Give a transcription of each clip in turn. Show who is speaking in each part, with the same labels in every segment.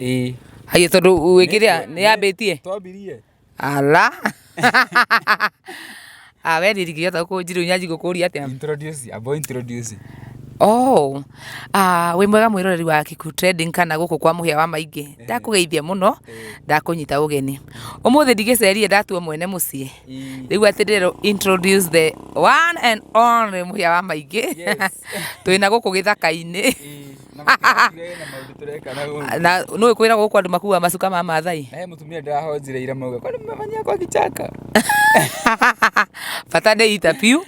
Speaker 1: ĩĩ Haiya tondũ wĩkĩrĩa nĩ yambĩtie. twambirie
Speaker 2: Ala.
Speaker 1: Ah, we ndirigĩria ta kũnjirũ nyanji gũkũria atĩa. introduce abo introduce
Speaker 2: Oh.
Speaker 1: Ah, wĩ mwega mwĩroreri wa Kiku Trending kana gũkũ kwa mũhĩa wa maingĩ. Ndakũgeithia mũno, ndakũnyita ũgeni. Ũmũthĩ ndigĩcerie ndatua mwene mũciĩ. rĩu atĩ ndĩrero introduce the one and only mũhĩa wa maingĩ twĩna gũkũ gĩthaka-inĩ na nä kwä ra gå kå andå makuaga macuka ma mathai mutumia ndahonjire
Speaker 2: ira mauga kwani mmemanyiakwa kichaka
Speaker 1: bata nä ita biu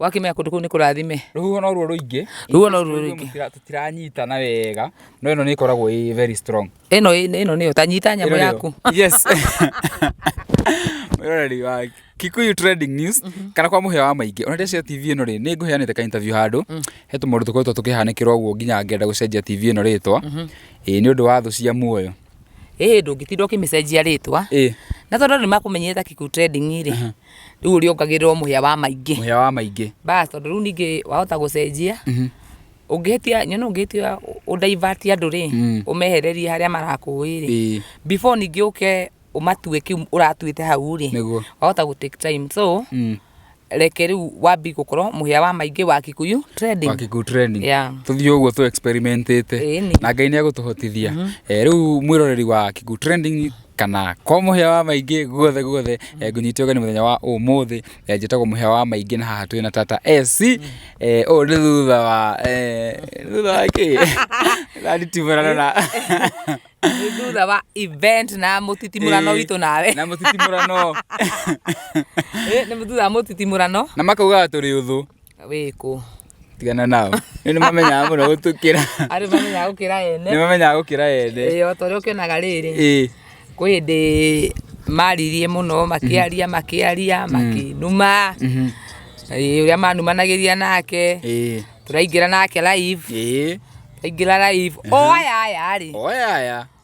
Speaker 1: wakĩmenya kũndũ kũu nĩ kũrathime rũhuho noruo rũingĩ
Speaker 2: Rũhuho noruo rũingĩ. Tũtira- tũtiranyitana wega no ĩno nĩ ĩkoragwo ĩ very strong ĩno ĩno nĩyo ta
Speaker 1: nyita nyamũ Ĩno nĩyo. yaku yes
Speaker 2: mwĩroreri wa kikuyu trending news kana kwa mũhĩa wa maingĩ ona ndĩcio tv ĩno rĩ nĩ ngũheanĩte ka interview handũ he tũmaũndũ tũkoretwo tũkĩhanĩkĩra ũguo nginya ngenda gũcenjia tv ĩno rĩtwa ĩĩ nĩ ũndũ wa thũ cia muoyo ĩĩ ndũngĩtinda
Speaker 1: ũkĩmĩcenjia rĩtwa ĩĩ na tondũ nĩ makũmenyete ta Kikuyu Trending rĩ rĩu ũrĩongagĩrĩrwo mũhĩa wa maingĩ mũhĩa wa maingĩ bas tondũ rĩu ningĩ wahota gũcenjia Mhm. ũngĩhĩtia nyona ũngĩhĩtia ũndaivati andũ rĩ Mm. ũmehererie harĩa marakũĩ rĩ Ĩĩ. before ningĩ ũke ũmatue kĩu ũratuĩte hau rĩ Nĩguo. wahota gũ take time so Mm. reke rĩu wambi gũkorwo mũhĩa wa maingĩ wa kikuyu trading Wakikuyu training. Yeah. tũthiĩ ũguo tũ experimentĩte Ĩĩ nĩ. na ngai nĩ egũtũhotithia Eh, rĩu mwĩroreri wa kikuyu trending kana kwa mũhĩa wa maingĩ guothe guothe eh, ngũnyitio ũgeni mũthenya wa ũmũthĩ eh, njĩtagwo mũhĩa wa maingĩ na haha twĩ na tata ac eh, ũũ nĩ thutha wa eh, thutha wa kĩ raritimũrana na Nĩ thutha wa event na mũtitimũrano Eh, witũ nawe na mũtitimũrano Eh, nĩ thutha wa mũtitimũrano na makaugaga tũrĩ
Speaker 2: ũthũ wĩkũ
Speaker 1: tigana nao
Speaker 2: nĩ mamenyaga mũno gũtũkĩra arĩ mamenyaga gũkĩra
Speaker 1: ene nĩ mamenyaga gũkĩra ene
Speaker 2: ĩĩ o ta ũrĩa ũkĩonaga rĩrĩ
Speaker 1: ĩĩ kwĩ hĩndĩ maririe mũno makĩaria mhm. makĩaria mhm. makĩnuma mhm. ũrĩa manumanagĩria nake tũraingĩra nake live tũraingĩra live o aya aya rĩ o aya aya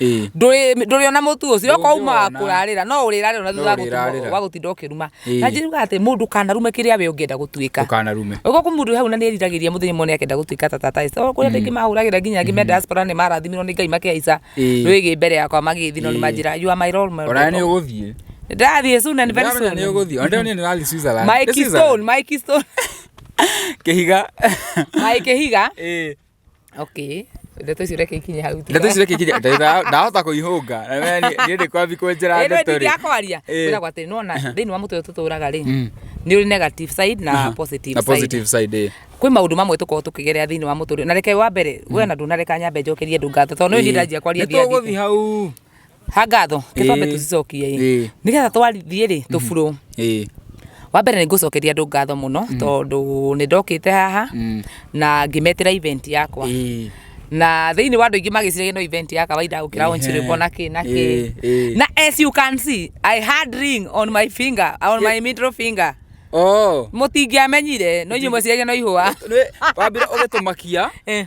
Speaker 1: Ĩĩ. ndũrĩ ndũrĩona mũtu ũcio okorwo umaga Ndũngĩwona. kũrarĩra no ũrĩrarĩra ona thutha wa No ũrĩrarĩra. gũtuma- wa gũtinda ũkĩruma Ĩĩ. na njĩruga atĩ mũndũ kanarume kĩrĩa we ũngĩenda gũtuĩka Ndũkanarume. Ũguo kũ mũndũ
Speaker 2: hau na nĩ
Speaker 1: eriragĩria mũthenya ũmwe nĩ akenda gũtuĩka ta tata Esther. Kũrĩa andũ aingĩ mahũragĩra nginya angĩ me diaspora nĩ marathimirwo nĩ Ngai makĩhaica Ĩĩ. rwĩgĩ mbere yakwa magĩthiĩ no nĩ Ĩĩ. manjĩra you are my role model." Ona nĩ ũgũthiĩ.
Speaker 2: Ndathiĩ soon and
Speaker 1: very Ndĩramenya soon. nĩ ũgũthiĩ. Ona ndio niĩ
Speaker 2: ndĩrathiĩ Switzerland. My Nĩ Switzerland? keystone, my
Speaker 1: keystone. Kĩhiga.
Speaker 2: My kĩhiga. Ĩĩ.
Speaker 1: Okay. Ndeto icio reke ikinye hau. Ndeto icio reke ikinye. Ndahota
Speaker 2: kũihũnga. Na wewe niĩ ndĩkwambi kwenjera ndeto rĩ. Ĩno ndingĩakwaria. Wĩra gwa atĩ
Speaker 1: nĩwona thĩinĩ wa mũtwe tũtũraga rĩ. Mm. Nĩ ũrĩ negative side na positive side. Na positive side ĩ. Kwĩ
Speaker 2: maũndũ mamwe tũkoragwo
Speaker 1: tũkĩgerera thĩinĩ wa mũtũrĩre. Na reke wa mbere we na ndũnareka nyambe njokerie ndũngatho tondũ nĩ ndĩranjia kwaria thiathi. Nĩ tũgũthiĩ hau.
Speaker 2: ha ngatho
Speaker 1: Ĩĩ. gĩcombe tũcicokie Ĩĩ. ĩ nĩgetha twarithiĩ rĩ tũburũ ĩĩ wa mbere nĩ ngũcokeria andũ ngatho mũno tondũ nĩ ndokĩte haha Mm. na ngĩmetĩra event yakwa ĩĩ na thĩinĩ wa andũ aingĩ magĩciragia no event ya kawaida gũkĩra Ehe. onchiribo na kĩ na Ĩĩ, kĩ ĩĩ. na as you can see i had ring on my finger on my middle finger oh mũtingĩamenyire no inyuĩ mweciragia no ihũa Nĩ- wambire
Speaker 2: ũgĩtũmakia Eh.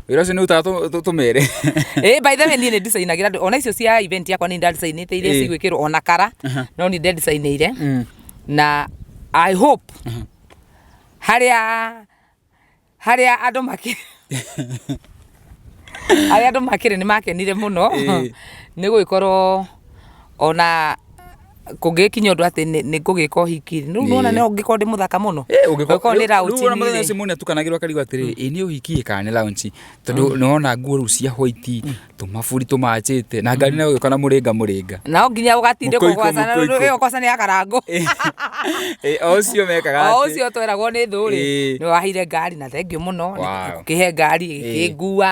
Speaker 1: wira
Speaker 2: ucio ni utaga tumere eh by the
Speaker 1: way ni ndisayinagira andu ona icio cia event yakwa ni ndisayinite iria eh. cigwikirwo ona kara no ni ndisayinire mm. na i hope haria haria andu maki aria andu makire ni makenire muno eh. ni gwikorwo ona kũngĩkinya ũndũ atĩ nĩ nĩ ngũgĩka ũhiki rĩ rĩu nĩwona no ngĩkorwo ndĩ mũthaka mũno ngĩkorwo nĩ raũnji rĩu ona mũthenya ũcio mũndũ nĩatukanagĩrwo
Speaker 2: akarigwo atĩrĩ ĩ nĩ ũhiki ĩ kana nĩ raũnji tondũ nĩwona nguo rĩu cia white tũmaburi tũmanjĩte na ngari nayo ĩgĩũka na mũrĩnga mũrĩnga no nginya ũgatinde
Speaker 1: Mũkũikũ, kũgwacana mũkũikũ. rĩu ĩyo ũkoca nĩ akarangũ Ĩ,
Speaker 2: o ũcio mekaga o atĩ- ũcio tweragwo nĩ thũ
Speaker 1: rĩ Ĩĩ. nĩ wahire ngari na thengiũ mũno Wow. kĩhe ngari ĩkĩngua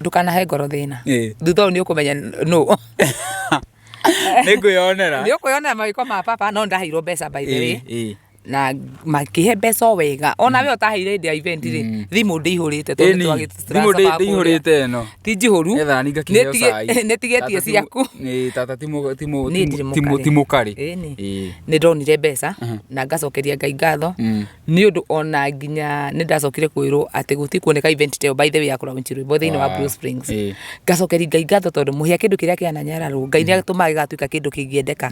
Speaker 2: Ndũkanahe ngoro thĩna.
Speaker 1: Thutha ũyũ nĩ ũkũmenya nũ.
Speaker 2: Nĩ ũkwĩyonera mawĩko ma
Speaker 1: baba no nĩ ndaheirwo mbeca by the way na makĩhe mbeca o wega. Ona we ũtaheire hĩndĩ ya event rĩ, thimũ ndĩihũrĩte tondũ nĩ
Speaker 2: twagĩte tũratathi twa kũrĩa. Ti
Speaker 1: njihũru.
Speaker 2: Nĩ tigĩtie
Speaker 1: ciaku.
Speaker 2: Nĩ ndonire
Speaker 1: mbeca na ngacokeria Ngai ngatho. nĩ ũndũ ona nginya nĩ ndacokire kwĩrwo atĩ gũtirĩ kuoneka event ta ĩyo by the way ya kũraunci rwĩmbo thĩinĩ wa Blue Springs Eh. ngacokeria ngai ngatho tondũ mũhĩa kĩndũ kĩrĩa kĩana nyararwo ngai nĩ atũmaga gĩgatuĩka kĩndũ kĩngĩendeka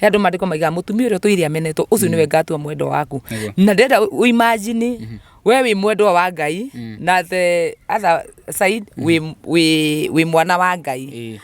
Speaker 1: he andũ mandĩko maigaga mũtumia ũrĩa ũtũire amenetwo ũcio nĩwe ngatua mwendwa waku Nĩguo. na ndĩrenda uimajini we wĩ mwendwa wa ngai na the other side wĩ- wĩ wĩ mwana wa ngai Eh.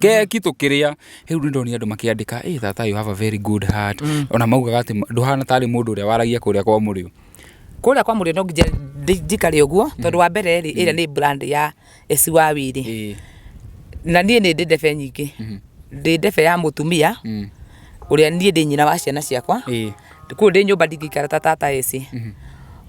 Speaker 2: keki tũkĩrĩa rĩu nĩ ndonire andũ makĩandĩka ĩ tata you have a very good heart mm. ona maugaga atĩ ndũhana tarĩ mũndũ ũrĩa waragia kũrĩa kwa mũrĩo kũrĩa kwa mũrĩo no
Speaker 1: nginya ndi- njikare ũguo mm. tondũ wa mbere rĩ ĩrĩa nĩ brand ya esiwawi rĩ Ĩĩ. na niĩ nĩ ndĩ ndebe nyingĩ ndĩ ndebe ya mũtumia Mm. ũrĩa niĩ ndĩ nyina wa ciana ciakwa Ĩĩ. kũu ndĩ nyũmba ndingĩikara ta tata ĩcĩ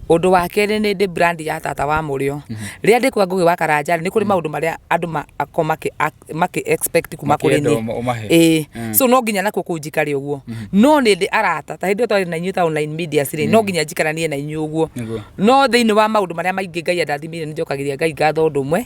Speaker 1: ũndũ wa kerĩ nĩ ndĩ brand ya tata wa mũrĩo rĩrĩa ndĩ kwa ngũgĩ wa karanja nĩ kũrĩ maũndũ marĩa andũ ma- ako makĩ ak- makĩ expect kuma kũrĩ Makĩenda ũma- ũmahe. niĩ ĩĩ so no nginya nakuo kũu njikare ũguo no nĩ ndĩ arata ta hĩndĩ ĩyo twarĩ na inyuĩ ta online media rĩ no nginya njikaranie na inyuĩ ũguo Nĩguo. no thĩinĩ wa maũndũ marĩa maingĩ ngai andathimĩire nĩ njokagĩria ngai ngatho ũndũ ũmwe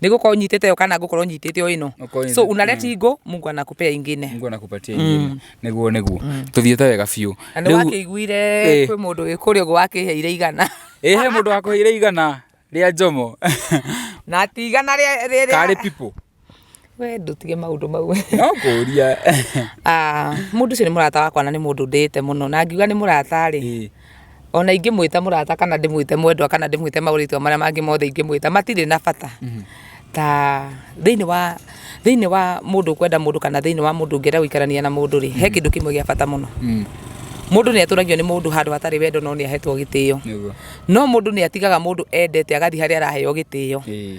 Speaker 1: Ni gukorwo nyitite yo kana ngukorwo nyitite yo ino. Ukoine. So unaleta igo Mungu anakupea ingine. Mungu anakupatia ingine.
Speaker 2: Niguo niguo. Tuthiete wega biũ. Na nĩ wakĩiguire
Speaker 1: Eh. kwĩ mũndũ wĩ kũrĩa ũguo wakĩheire igana Ĩ he mũndũ wakũheire
Speaker 2: igana rĩa njomo. na ati
Speaker 1: igana rĩa- rĩa- rĩa- Karĩ pipo.
Speaker 2: we
Speaker 1: ndũtige maũndũ mau No kũria.
Speaker 2: Ah,
Speaker 1: mũndũ ũcio nĩ mũrata wakwa na nĩ mũndũ ndĩĩte mũno na ngiuga nĩ mũrata rĩ Ĩ. Ona ingĩmwĩta mũrata kana ndĩmwĩte mwendwa kana ndĩmwĩte maũrĩtwa marĩa mangĩ mothe ingĩmwĩta matirĩ na bata ta thĩinĩ wa thĩinĩ wa mũndũ kwenda mũndũ kana thĩinĩ wa mũndũ ũngĩenda gũikarania na mũndũ rĩ he kĩndũ kĩmwe gĩa bata mũno mũndũ nĩ atũragio nĩ mũndũ handũ hatarĩ wendo no nĩ ahetwo gĩtĩo Nĩguo. no mũndũ nĩ atigaga mũndũ endete agathiĩ harĩa araheo gĩtĩo Ĩĩ.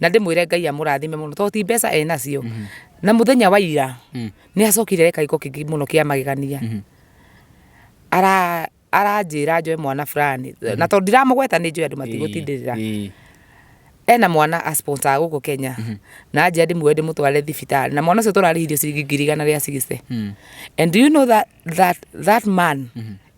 Speaker 1: na ndĩmwĩre ngai amũrathime mũno tondũ ti mbeca enacio mhm. na mũthenya wa ira mm. nĩ acokire eka gĩko kĩngĩ mũno kĩa magegania mhm. aranjĩra njoe mwana fulani mhm. na tondũ ndiramũgweta nĩ njoe andũ matigũtindĩrĩra ena mwana a sponsor gũkũ Kenya mm -hmm. na anjia ndĩmuoe ndĩmũtware thibitarĩ na mwana ũcio tũrarĩhirio ciringi ngiri igana rĩa sixty mm. and do you know that, that, that man mm -hmm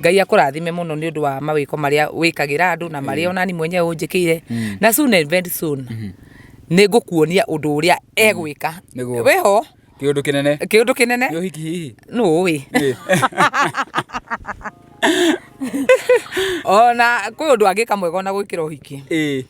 Speaker 1: Ngai akũrathime mũno nĩ ũndũ wa mawĩko marĩa wĩkagĩra andũ na marĩa onani mwenyewe ũnjĩkĩire mm. na soon and very soon mm-hmm. nĩ ngũkuonia ũndũ ũrĩa egwĩka mm. wĩho kiundu kinene kiundu kinene ni uhiki hihi no
Speaker 2: wi
Speaker 1: ona kwi undu angika mwega ona gwikira uhiki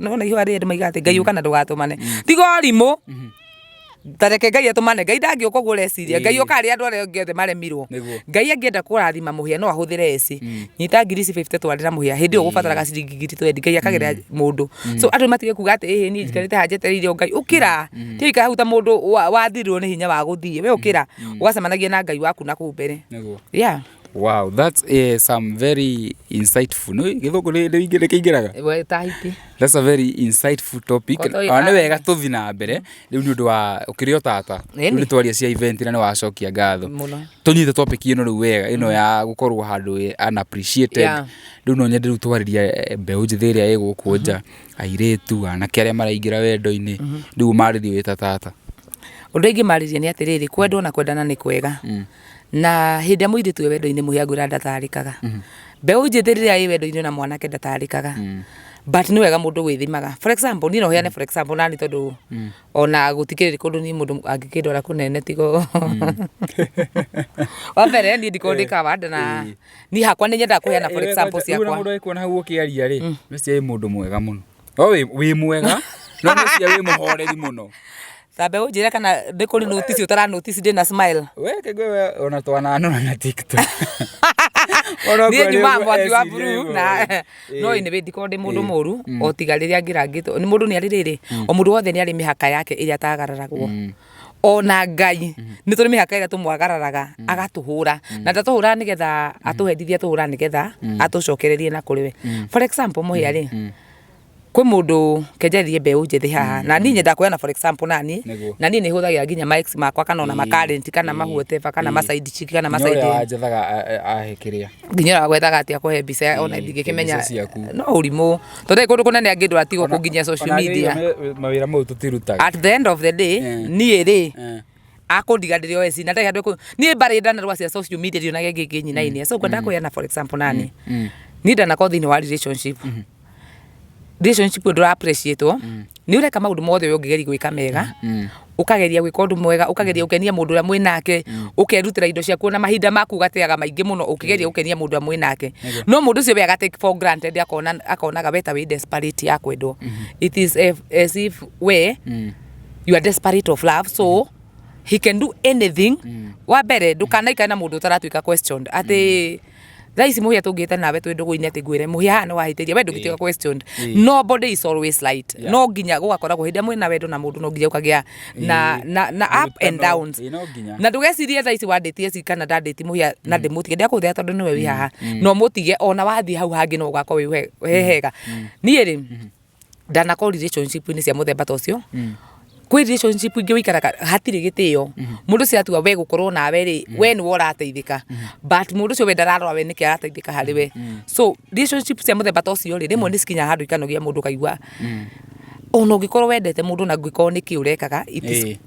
Speaker 1: nona ihũa rĩrĩ maiga atĩ ngai ũka na ndũgatũmane tiga ũrimũ tareke ngai atũmane ngai ndangĩũka ũguo ũreciria ngai ũka arĩa andũ arĩa angĩ othe maremirwo Nĩguo. ngai angĩenda kũrathima mũhĩa no ahũthĩre ĩci nyita ngiri ici 50 twarĩra mũhĩa hĩndĩ ĩyo ũgũbataraga ciringi ngiri 20 ngai akagerera mũndũ so andũ matige kuga atĩ ĩhĩ niĩ njikarĩte haha njetereire o ngai ũkĩra tiũikara hau ta mũndũ wa- wathirwo nĩ hinya wa gũthiĩ we ũkĩra ũgacemanagia na ngai waku na kũu mbere Nĩguo. yeah Wow, that's
Speaker 2: uh, some very insightful. No, githungu ni ni ingi nikingiraga. We tahiti.
Speaker 1: That's a very
Speaker 2: insightful topic. Koto i- Ah, ni wega tuthi na mbere. Riu ni undu wa ukirio tata. Nini? Riu ni twaria cia event na ni wacokia ngatho. Muno. Tunyite topic ino riu wega ino ya gukorwo handu wi unappreciated. Yeah. Riu no nyende riu twariria eh, mbeũ njĩthĩ ĩrĩa ĩgũkũ nja airĩtu anake arĩa maraingĩra wendo-inĩ riu marĩrio wĩ ta tata Ũndũ ingĩ
Speaker 1: marĩria nĩ atĩrĩrĩ, kwendwo na kwendana nĩ kwega. na hĩndĩ ĩrĩa mũirĩtu e wendo-inĩ mũhĩa ngwĩra ndatarĩkaga mhm. mbeũ njĩthĩ rĩrĩa ĩ wendo-inĩ na mwanake ndatarĩkaga mm. but nĩ wega mũndũ gwĩthimaga for example niĩ no heane for example nani tondũ mm. ona gũtikĩrĩ kũndũ niĩ mũndũ angĩkĩndwara kũnene tigo mm. wa mbere niĩ ndikorwo ndĩ eh, kawanda na eh. niĩ hakwa nĩ nyendaga kũheana for eh, example ciakwa mũndũ agĩkuona hau ũkĩaria
Speaker 2: rĩ nĩ cia mwega mũno wĩ mwega no nĩ cia wĩ mũhoreri mũno Thambe unjire
Speaker 1: kana ndi kuri notice utara notice ndi na smile. We kigwe we ona
Speaker 2: twana no na TikTok.
Speaker 1: Ona Niĩ kwa nyuma rĩu mwaki wa SDM buru na Eh. no nĩ bĩndi korwo ndĩ mũndũ mũru o tiga rĩrĩa ngĩrangĩtwo nĩ mũndũ nĩ arĩ rĩrĩ o mũndũ wothe nĩ arĩ mĩhaka yake ĩrĩa atagararagwo ona ngai nĩ tũrĩ mĩhaka ĩrĩa tũmwagararaga agatũhũra na ndatũhũraga nĩgetha atũhendithia atũhũraga nĩgetha atũcokererie na kũrĩ we for example mũhĩa rĩ kwĩ mũndũ kenjeririe mbeũ njĩthĩ haha na niĩ nyendaga kuoya na for example na niĩ Nĩguo. na niĩ nĩ hũthagĩra nginya ma ex makwa kana ona ma current kana ma whatever kana ma side chick kana ma Nĩ side ũrĩa wanjethaga
Speaker 2: ahe kĩrĩa nginya ũrĩa wagwethaga atĩ
Speaker 1: akũhe mbica ona Ĩĩ, ndingĩkĩmenya mbica ciaku. no ũrimũ tondũ kũndũ kũnene angĩndwo atigwo kũnginyia social media mawĩra mau
Speaker 2: tũtirutaga at the end of the day
Speaker 1: Eh. niĩ rĩ Eh. akundiga ndiri oe cina ndari andu ni mbari ndanarwa cia social media ri onage ngi nginyina ini so kwenda mm. na for example nani mm. ni ndanako thini wa relationship mm-hmm. relationship ndu appreciate mm. ni ureka maundu mothe uyu ngigeri gwika mega mm. ukageria gwika undu mwega ukageria ukenia mundu uria mwi nake ukerutira indo ciaku na mahinda maku gateaga maingi muno ukigeria ukenia mundu mwi nake no mundu ucio we aga take for granted akona akonaga weta wi desperate ya kwendwo mm-hmm. it is as if we you are desperate of love so he can do anything mm. wa mbere ndukanaikare na mundu utaratuika questioned ati mm. thaa ici muhia tungite nawe twi ndugu-ini ati ngwire muhia haha ni wahitiria we ndungituika eh. questioned eh. nobody is always right yeah. no nginya gugakoragwo hindi amwe na wendo na mundu no nginya ukagia na eh. na na up and downs na ndugecirie thaa ici wanditie ci kana ndanditi muhia na mm. ndimutige ndiakuthia tondu niwe wi mm. haha mm. no mutige ona wathii hau hangi no ugakorwo wi hega nie ri mm-hmm. ndanakorwo relationship inĩ cia mũthemba ta ũcio kwĩ relationship ingĩ ũikaraga hatirĩ gĩtĩo mũndũ ũcio atua we gũkorwo nawe rĩ we nĩwe ũrateithĩka but mũndũ ũcio we ndararora we nĩkĩ arateithĩka harĩ we so relationship cia mũthemba ta ũcio rĩ rĩmwe nĩ cikinyaga handũ ikanogia mũndũ ũkaigua ona ũngĩkorwo wendete mũndũ na angĩkorwo nĩkĩ ũrekaga it is Ĩĩ.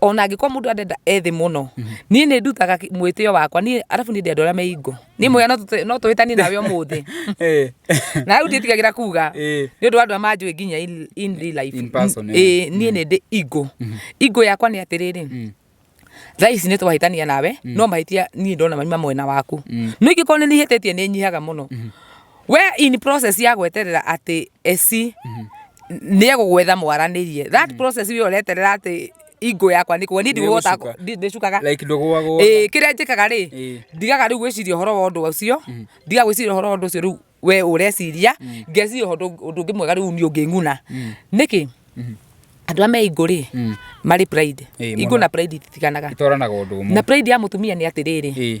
Speaker 1: ona angĩkorwo mũndũ arenda ethĩ mũno niĩ nĩ ndutaga kĩ- mwĩtĩo wakwa niĩ arabu niĩ ndĩ andũ arĩa me ingo niĩ mũya no tũte- no tũhĩtanie nawe ũmũthĩ Eh. na rĩu ndiĩtigagĩra kuga Eh. nĩ ũndũ wa andũ arĩa manjũĩ nginya in- in real life. In person, eh. Ĩĩ, niĩ
Speaker 2: nĩ ndĩ
Speaker 1: ingo ingo yakwa nĩ atĩrĩrĩ thaa ici nĩ twahĩtania nawe no mahĩtia niĩ ndona maima mwena waku no ingĩkorwo nĩ nihĩtĩtie nĩ nyihaga mũno We in process ya gweterera atĩ eci nĩ egũgwetha mwaranĩrie that process we ũreterera atĩ ingo yakwa nĩ kũgwa niĩ ndigũgota Nĩgũcuka. ndi- ndĩcukaga like ndũgwagwo
Speaker 2: Ĩĩ, kĩrĩa njĩkaga rĩ Ĩĩ.
Speaker 1: ndigaga rĩu gwĩciria ũhoro wa ũndũ ũcio ndigaga gwĩciria ũhoro wa ũndũ ũcio rĩu we ũreciria ngeciria ũhoro ũndũ- ũndũ ũngĩ mwega rĩu niĩ ũngĩng'una nĩkĩ andũ a me ingũ rĩ marĩ pride Ĩĩ, ingũ mũno. na pride ititiganaga itoranaga ũndũ na ũmwe
Speaker 2: pride ya mũtumia nĩ
Speaker 1: atĩrĩrĩ Ĩĩ.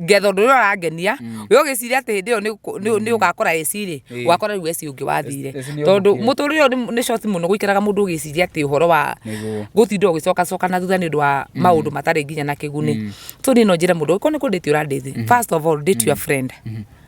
Speaker 1: ngetha ũndũ ũrĩa ũrangenia mm. we ũgĩciria atĩ hĩndĩ ĩyo nĩ mm. ũgakora ecirĩ wakora rĩu eci ũngĩ wathire tondũ mũtũrĩ ũyũ nĩ short mũno gũikaraga mũndũ ũgĩciria atĩ ũhoro wa gũtinda ũgĩcokacoka na thutha nĩ ũndũ wa mm. maũndũ matarĩ nginya na kĩguni tũ niĩ no njĩre mũndũ okorwo nĩ kũndĩti ũrandĩti first of all date your friend mm-hmm.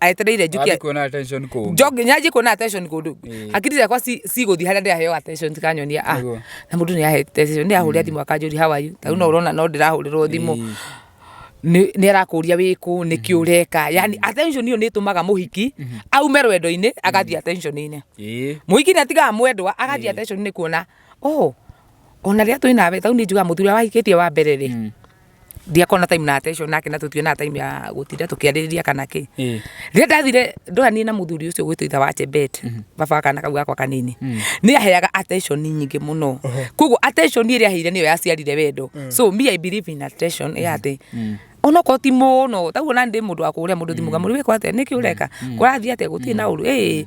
Speaker 1: aetereire njũke Wathi kuona attention kũngĩ.
Speaker 2: njoke nyanjie kuona attention
Speaker 1: kũndũ Ĩĩ. hakiri ciakwa ci- cigũthiĩ harĩa ndĩraheo attention tikanyonia ah Nĩguo. na mũndũ nĩ ahete attention nĩ ahũrĩra thimũ akanjũria how are you tarĩu no ũrona no ndĩrahũrĩrwo thimũ Ĩĩ. nĩ nĩ arakũria wĩkũ nĩ kĩ ũreka yani attention ĩyo nĩ ĩtũmaga mũhiki aume rwendo-inĩ agathiĩ attention-inĩ Ĩĩ. mũhiki nĩ atigaga mwendwa agathiĩ attention-inĩ kuona oh ona rĩrĩa twĩ nawe tarĩu nĩ njugaga mũthuri ũrĩa wahikĩtie wa mbere rĩ ndiakona time na attention nake na tũtiwe na time ya gũtinda tũkĩarĩrĩria kana kĩ Ĩĩ. rĩrĩa ndathire ndohanie na mũthuri ũcio gwĩtũ itha wa chebet baba wa kana kau gakwa kanini nĩ aheaga attention nyingĩ mũno koguo attention ĩrĩa aheire nĩyo yaciarire wendo so me i believe in attention ya atĩ onokorwo ti mũno taguo na ndĩ mũndũ wa kũũrĩa mũndũ thimũ ngamũrĩ wĩkwo atĩa nĩkĩ ũreka kũrathiĩ atĩa gũtirĩ na ũru ĩĩ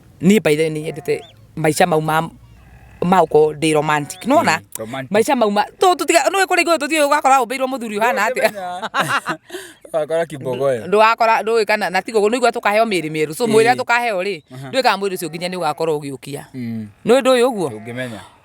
Speaker 1: niä by the way nä nyendete maica mau ma ma uko ndi romantic no na romantic. maica mau ma tu tu tiga no kuri go tu tiga gakora umbeirwo muthuri hana ati
Speaker 2: wakora kibogoyo ndu wakora ndu kana
Speaker 1: na tigo no igwa tukaheo miri miru so mwira tukaheo ri ndu ka mwiri ucio nginya ni ugakorwo ugiukia Mm, no ndu uyu guo ndũngĩmenya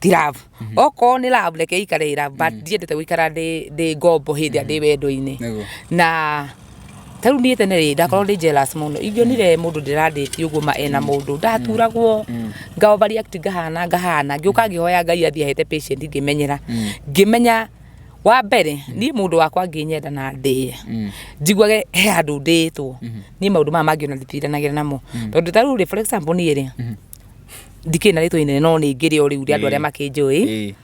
Speaker 1: ti love okorwo nĩ love reke ikare ĩ love but ndiendete gũikara ndĩ ndĩ ngombo hĩndĩ ĩrĩa ndĩ wendo-inĩ Nĩguo. na ta rĩu niĩ tene rĩ ndakorwo ndĩ jealous mũno ingĩonire mũndũ ndĩrandĩti ũguo ma ena mũndũ ndaturagwo ngamba react ngahana ngahana ngĩũka ngĩhoya ngai athiĩ ahete patient ngĩmenyera ngĩmenya wa mbere niĩ mũndũ wakwa angĩnyenda na ndĩe njiguage he handũ ndĩtwo niĩ maũndũ maya mangĩ ona nditiranagĩra namo tondũ ta rĩu rĩ for example niĩ rĩ ndikĩrĩ na rĩtwa inene no nĩ ngĩrĩ o rĩu rĩa andũ arĩa makĩnjũĩ Ĩĩ.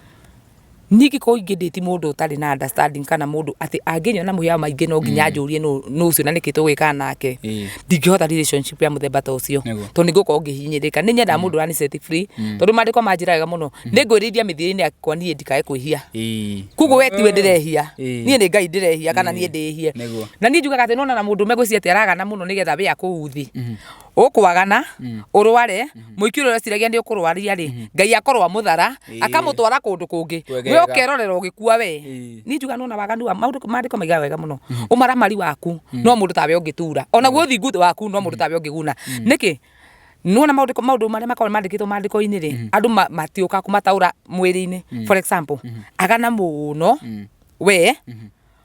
Speaker 1: niĩ ngĩkorwo ingĩ ndĩti mũndũ ũtarĩ na understanding kana mũndũ atĩ angĩnyona na mũhĩa maingĩ no nginya njũrie nũ nũ ũcio na nĩkĩ tũgwĩka nake Ĩĩ. ndingĩhota relationship ya mũthemba ta ũcio Nĩguo. tondũ nĩ ngũkorwo ngĩhinyĩrĩka nĩ nyendaga mũndũ ũrani set free tondũ maandĩko manjĩra wega mũno nĩ ngwĩrĩithia mĩthiĩre-inĩ yakwa niĩ ndikae kwĩhia Ĩĩ. koguo we tiwe ndĩrehia Ĩĩ. niĩ nĩ ngai ndĩrehia kana niĩ ndĩhie Nĩguo. na niĩ njugaga atĩ nona na mũndũ ũme gwĩciria atĩ aragana mũno nĩgetha we akũu thĩ ũkwagana mm. ũrware mm-hmm. mũiki ũrĩa ũreciragia nĩ ũkũrwaria rĩ mm-hmm. ngai akorwo amũthara akamũtwara kũndũ kũngĩ we ũkerorera ũgĩkua we ni njuga nona waganu wa maũndũ maandĩko maiga wega mũno mm-hmm. ũmaramari waku mm. no mũndũ tawe ũngĩtura ona guo ũthingu waku no mũndũ tawe ũngĩguna nĩkĩ nona maundu maundu maria makorwo mandikitwo mandiko ini ri mm-hmm. andu matiuka kumataura mwiri ini mm-hmm. for example mm-hmm. agana muno we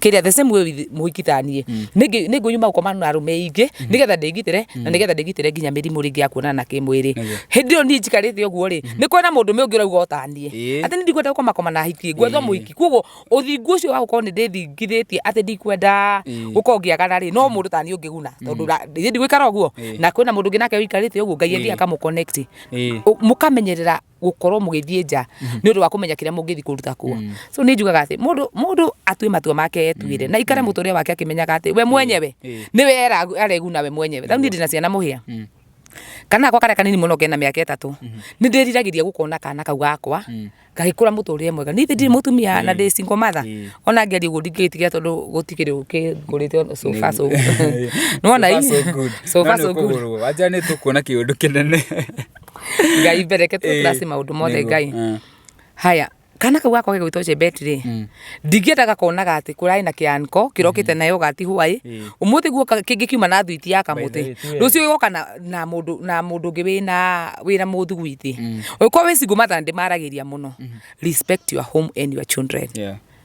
Speaker 1: kiria the same way with muhikithanie ningi ningu nyuma gukoma na arume ingi nigetha ndingitire na nigetha ndingitire nginya mirimu ringi ya kuonana na kimwiri hindi yo ni njikarite uguo ri ni kwena mundu me ungi urauga utanie Ĩĩ. ati ni ndikwenda gukoma koma na hiki ngwethwo muhiki koguo uthingu ucio wa gukorwo ni ndithingithitie ati ndikwenda gukorwo ngiagana ri no mundu tani ungiguna tondu ndigwikara uguo na kwena mundu ungi nake wikarite uguo ngai athi akamukonnect Ĩĩ. mukamenyerera gukorwo mugithie nja mhm. ni undu wa kumenya kiria mungithi kuruta kuo mm. so ni njugaga ati mundu mundu atue matua make etuire mm. na ikare mm. muturia wake akimenyaga ati we mwenyewe ni we areguna we mwenyewe thau ni ndina ciana muhia kana gakwa karia kanini muno kena miaka itatu mhm. ni ndiriragiria gukona kana kau gakwa mm. gagikura muturire mwega ni thindi mutumia mm. na ndi single mother mm. ona ngeri uguo ndingitigira tondu gutikiri ukingurite so far so nona so far so good aja ni tukuona
Speaker 2: kiundu kinene
Speaker 1: ngai mbere ke Eh, tũtase maũndũ mothe nĩguo, ngai eh. haya kana kau gakwa gĩgwĩtwo jebeti rĩ Mm. ndingĩenda gakonaga atĩ kũrarĩ na kĩanko kĩrokĩte nayo gati hwaĩ Mm. ũmũthĩ guo ka- kĩngĩ kiuma na thuiti ya By the way, kamũtĩ tiwe. rũciũ gĩgoka na- na mũndũ na mũndũ ũngĩ wĩna wĩra mũthugwiti ũkorwo wĩ single mother na ndĩmaragĩria mũno respect your home and your children Yeah.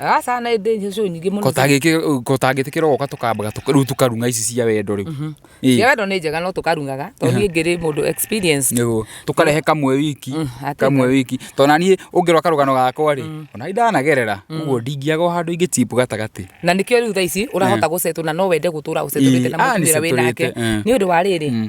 Speaker 2: aca na ĩndĩ
Speaker 1: icio nyingĩ mũno kotangĩtĩkĩra
Speaker 2: ũgoka tũkambaga rĩu tũkarunga ici cia wendo rĩu mhm. cia wendo nĩ njega
Speaker 1: no tũkarungaga tondũ niĩ ngĩrĩ mũndũ experience nĩguo tũkarehe
Speaker 2: kamwe wiki mm, kamwe wiki tondũ na niĩ ũngĩrwa karũgano gakwa rĩ mm. ona ndanagerera mm. ũguo ndingĩaga handũ ingĩ tipu gatagatĩ na nĩkĩo rĩu thaa ici
Speaker 1: ũrahota eh. gũcetwo na no wende gũtũra ũcetũrĩte na ah, mũtumĩra wĩ nake eh. nĩ ũndũ wa rĩrĩ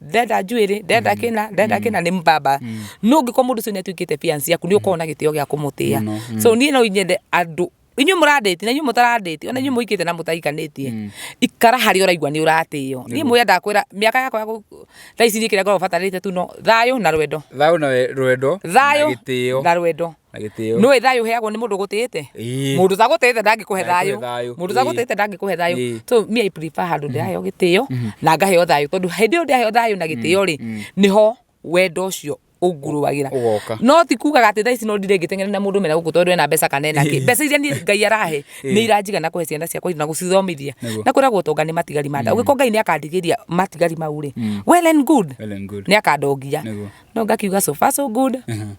Speaker 1: ndenda njuĩrĩ ndenda kĩna ndenda kĩna nĩ mbamba no ngĩkorwo mũndũ ũcio nĩ atuĩkĩte fiancĩ yaku nĩ ũkoragwo na gĩtĩo gĩa kũmũtĩa Mũno, mm. so niĩ no nyende andũ inyuĩ mũrandĩti na inyuĩ mũtarandĩti ona inyuĩ mũikĩte na mũtaikanĩtie ikara harĩa ũraigua nĩ ũratĩo niĩ mũya ndakwĩra mĩaka yakwa ya gũ- thaa ici niĩ kĩrĩa ngoragwo batarĩte tu no thayũ na rwendo thayũ na we- rwendo thayũ na gĩtĩo na rwendo na gĩtĩo nĩ thayũ ũheagwo nĩ mũndũ ũgũtĩĩte mũndũ ũtagũtĩĩte ndangĩkũhe thayũ mũndũ ũtagũtĩĩte ndangĩkũhe thayũ so me I prefer handũ ndĩraheo mm-hmm. gĩtĩo mm-hmm. na ngaheo thayũ tondũ hĩndĩ ĩyo ndĩraheo thayũ na gĩtĩo rĩ mm-hmm. nĩho wendo ũcio ũngurũagĩra no ti kugaga atĩ thaa ici no ndire ngĩteng'ere na mũndũ mena gũkũ tondũ ena mbeca kana ena kĩ mbeca iria niĩ ngai arahe nĩ iranjiga na kũhe ciana ciakwa na gũcithomithia na kwĩragwo ũtonga nĩ matigari ma nda mm. ũgĩkorwo ngai nĩ akandigĩria matigari mau rĩ mm. well and good nĩ akandongia no ngakiuga so far so good uh-huh.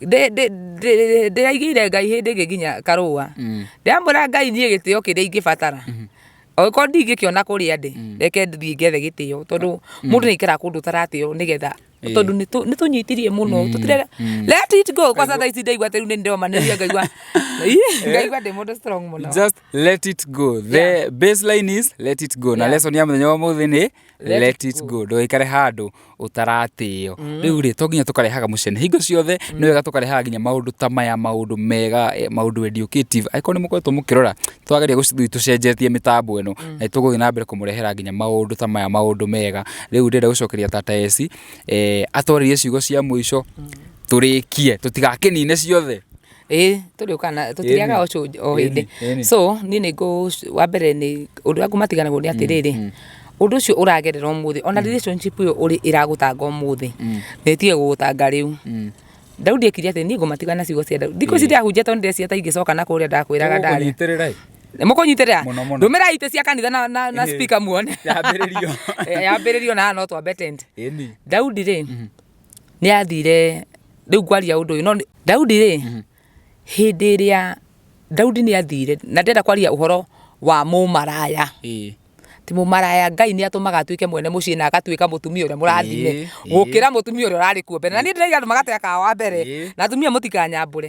Speaker 2: Ndĩ- ndĩ- ndĩ-
Speaker 1: ndĩraigĩire ngai hĩndĩ ĩngĩ nginya karũa ndĩramwĩra ngai niĩ gĩtĩo kĩrĩa ingĩbatara angĩkorwo ndingĩkĩona kũrĩa ndĩ reke thiĩ ngethe gĩtĩo tondũ mũndũ nĩ aikaraga kũndũ ũtaratĩo nĩgetha tondũ nĩtũ- nĩtũnyitirie mũno tũtire let it go kwa sasa ici ndaigua atĩ rĩu nĩ ndĩromanĩria ngaigua Ih, ngaigua ndĩ mũndũ strong mũno just let it
Speaker 2: go the baseline is let it go na Yeah. lesson ya mũthenya wa mũthĩ nĩ let it go ndũgaikare handũ ũtaratĩo rĩu rĩ to nginya tũkarehaga mũcene hingo ciothe nĩ wega tũkarehaga nginya maũndũ ta maya maũndũ mega eh, maũndũ educative angĩkorwo nĩ mũkoretwo mũkĩrora twageria gũcithui tũcenjetie mĩtambo ĩno na tũgũthiĩ na mbere kũmũrehera nginya maũndũ ta maya maũndũ mega rĩu ndĩrenda gũcokeria tata eci eh, atwarĩrie ciugo cia mũico tũrĩkie tũtigakĩnine ciothe ĩĩ tũrĩũkana
Speaker 1: tũtiriaga Ĩni. ũcũnjũ o Ĩni, hĩndĩ ĩni. so niĩ nĩ ngũ- wa mbere nĩ ũndũ ũrĩa ngũmatiganagwo nĩ atĩrĩrĩ ũndũ ũcio ũragerera ũmũthĩ ona relationship ĩyo ũrĩ ĩragũtanga ũmũthĩ nĩ ĩtige gũgũtanga rĩu daudi ekire atĩ niĩ ngũmatiga na ciugo cia daudi thikũ ici ndĩrahunjia tondũ ndĩreciria ta ingĩcoka na kũrĩa ndakwĩraga ndarĩ Ũkũnyitĩrĩra-ĩ. mũkũnyitĩrĩra Mũno, mũno. ndũmĩrai itĩ cia kanitha na, na, na Ĩĩ. speaker muone Yambĩrĩrio. Eh, yambĩrĩrio na no twambe tent Ĩni. daudi rĩ nĩathire, rĩu ngwaria ũndũ ũyũ no nĩ, Daudi-rĩ, hĩndĩ ĩrĩa Daudi nĩathire, na ndĩrenda kwaria ũhoro wa mũmaraya, atĩ mũmaraya Ngai nĩatũmaga atuĩke mwene mũciĩ na agatuĩka mũtumia ũrĩa mũrathime, gũkĩra mũtumia ũrĩa ũrarĩ kuo mbere, na niĩ ndĩraiga andũ magatega kawa mbere, na atumia mũtikanyambũre.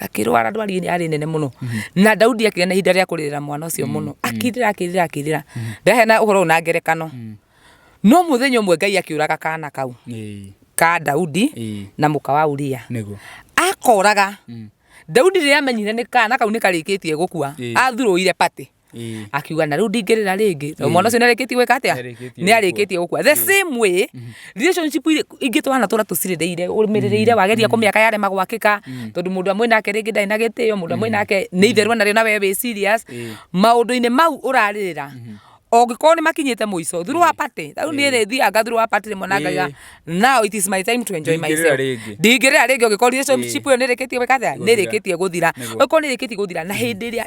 Speaker 1: akĩrwara ndwari yarĩ nene mũno na daudi akĩgĩa na ihinda rĩa kũrĩrĩra mwana ũcio mũno akirĩra akirĩra akirĩra ndaheana ũhoro ũyũ na ngerekano no mũthenya ũmwe ngai akĩũraga kana kau Ĩĩ. ka daudi Ĩĩ. na mũka wa uria Nĩguo. akoraga daudi rĩrĩa amenyire nĩ kana kau nĩ karĩkĩtie gũkua Ĩĩ. athurũire pati Ĩĩ. akiuga na rĩu ndingĩrĩra rĩngĩ tondũ mwana ũcio nĩ arĩkĩtie gwĩka atĩa Nĩarĩkĩtie nĩ arĩkĩtie gũkua the same way relationship irĩ- ingĩ twana tũra tũcirĩrĩire ũrũmĩrĩrĩire wageria kũmĩaka yarema gwakĩka tondũ mũndũ amwĩ nake rĩngĩ ndarĩ na gĩtĩo mũndũ amwĩ nake nĩ itherũ narĩo na we wĩ serious Ĩĩ. maũndũ-inĩ mau ũrarĩrĩra ũngĩkorwo nĩ makinyĩte mũico through wa party rĩu niĩ rĩ thianga through wa party rĩmwe na Ĩĩ. ngaiga now it is my time to enjoy Ndingĩrĩra myself rĩngĩ. ndingĩrĩra rĩngĩ ũngĩkorwo relationship ĩyo nĩ ĩrĩkĩtie gwĩka atĩa nĩ Gũthira. ĩrĩkĩtie gũthira Nĩguo. ũngĩkorwo nĩ ĩrĩkĩtie gũthira na hĩndĩ ĩrĩa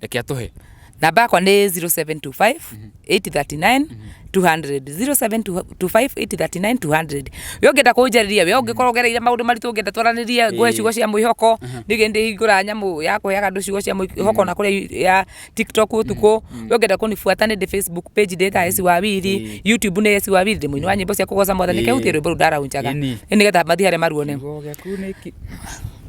Speaker 2: reke atũhe namba yakwa nĩ 0725 839
Speaker 1: 200 0725 839 200 we ũngĩenda kũnjarĩria we ũngĩkorwo ũgereire maũndũ maritũ ũngĩenda twaranĩrie ngũhe ciugo cia mwĩhoko nĩgĩ ndĩ hingũra nyamũ ya kũheaga andũ ciugo cia mwĩhoko na kũrĩa ya tiktok ũtukũ we ũngĩenda kũnibuata nĩ ndĩ facebook page ndĩ ta esi wa wiri youtube nĩ esi wa wiri ndĩ mũini wa nyĩmbo cia kũgoca mwathani kehutie rwĩmbo rũu ndaraunjaga Ĩni. nĩgetha mathiĩ harĩa maruone Kiugo gĩaku nĩ ki-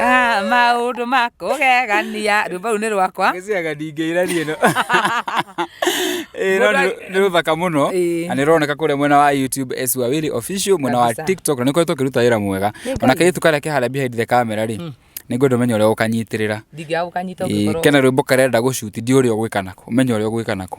Speaker 1: Ah, maundu makugegania rwimbo ruu ni rwakwa Ngĩciaga ndingĩira niĩ
Speaker 2: no. Ĩĩ, no nĩ- nĩ rũthaka mũno Ĩĩ. na nĩ rũroneka kũrĩa mwena wa youtube Esũ Awili official mwena wa Kabisa. tiktok na nĩ koretwo kĩruta wĩra mwega ona kairĩtu karĩa ke harĩa behind the camera rĩ nĩ ngwenda ũmenye ũrĩa ũkanyitĩrĩra ndingĩagũkanyita Ĩĩ,
Speaker 1: ũngĩkorwo kena rwĩmbo karenda gũcuti
Speaker 2: ndi ũrĩa ũgwĩka nako ũmenye ũrĩa ũgwĩka nako